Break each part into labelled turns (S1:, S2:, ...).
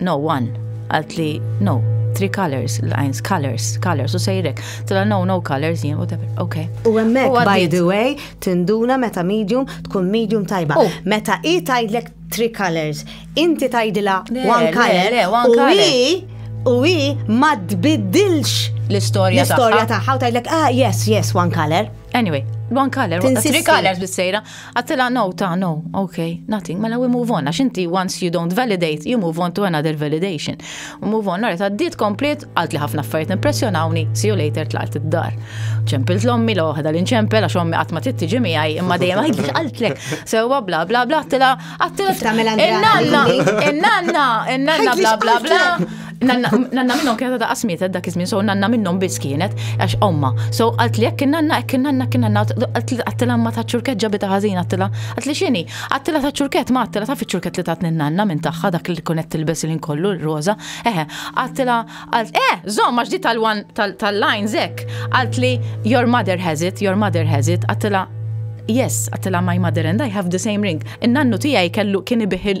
S1: No one, għalt li no, three colors, lines, colors, colors, u sejrek. Tila no, no colors, jien, whatever, ok. U għemmek, by
S2: the way, tinduna meta medium tkun medium tajba. Oh. Meta i tajdlek three colors, inti tajdila one color, u i, u i ma tbiddilx l-istoria taħħa. L-istoria
S1: taħħa, u tajdlek,
S2: ah, yes, yes, one color. Anyway, one
S1: color, three colors bis-sejra. Għattila, no, ta, no, ok, nothing, mela we move on, għax inti once you don't validate, you move on to another validation. U move on, għarret għaddit komplet, għalt li ħafna affarijiet impressjonawni, see you later tlaqt id-dar. ċempilt l-ommi l li nċempel għax ommi għatma tittiġi miħaj, imma dejjem għajt għaltlek, sewa bla bla bla, għattila, għattila, il-nanna, il-nanna, il-nanna bla bla bla. Nanna minnom kienet da qasmiet dak iż-żmien, so nanna minnom biss kienet għax omma. So għalt li jekk nanna hekk nanna kien nanna għattila ma ta' ċurket ġabi ta' ħażin għattila. Għalt li xini, għattila ta' ċurket ma għattila ta' fiċ-ċurket li tatni nanna minn tagħha dak li kunet tilbes il kollu l-roża. Eħe, għattila għalt eh, żomm għax di tal-wan tal-lajn zek. Għalt li your mother has it, your mother has it, għattila Yes, għattila my mother and I have the same ring. In-nannu tijaj kellu kien ibiħil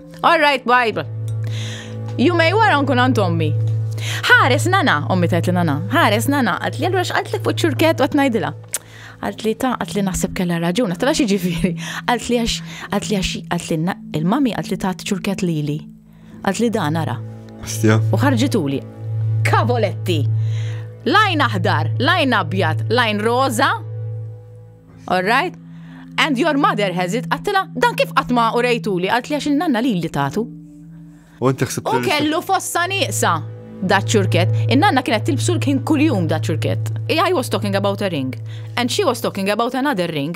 S1: All right, bye. Jumej wara nkun għand ommi. Ħares nana, ommi tajt li nana, ħares nana, għat li għallura xqat li fuq ċurket għat najdila. Għat li ta' għat li naħseb kella raġuna, tala xie ġifiri. Għat li għax, għat li għax, għat li il-mami għat li ta' ċurket li li. Għat li da' nara. Astja. U ħarġituli. Kavoletti. Lajn aħdar, lajn abjad, lajn roza, Alright? And your mother has it, għattila, dan kif għatma u rejtuli, għalt li għax il-nanna li li tatu. U inti xsib U kellu fossa nieqsa da ċurket. In-nanna kienet tilbsu l-kien kuljum da ċurket. I was talking about a ring. And she was talking about another ring.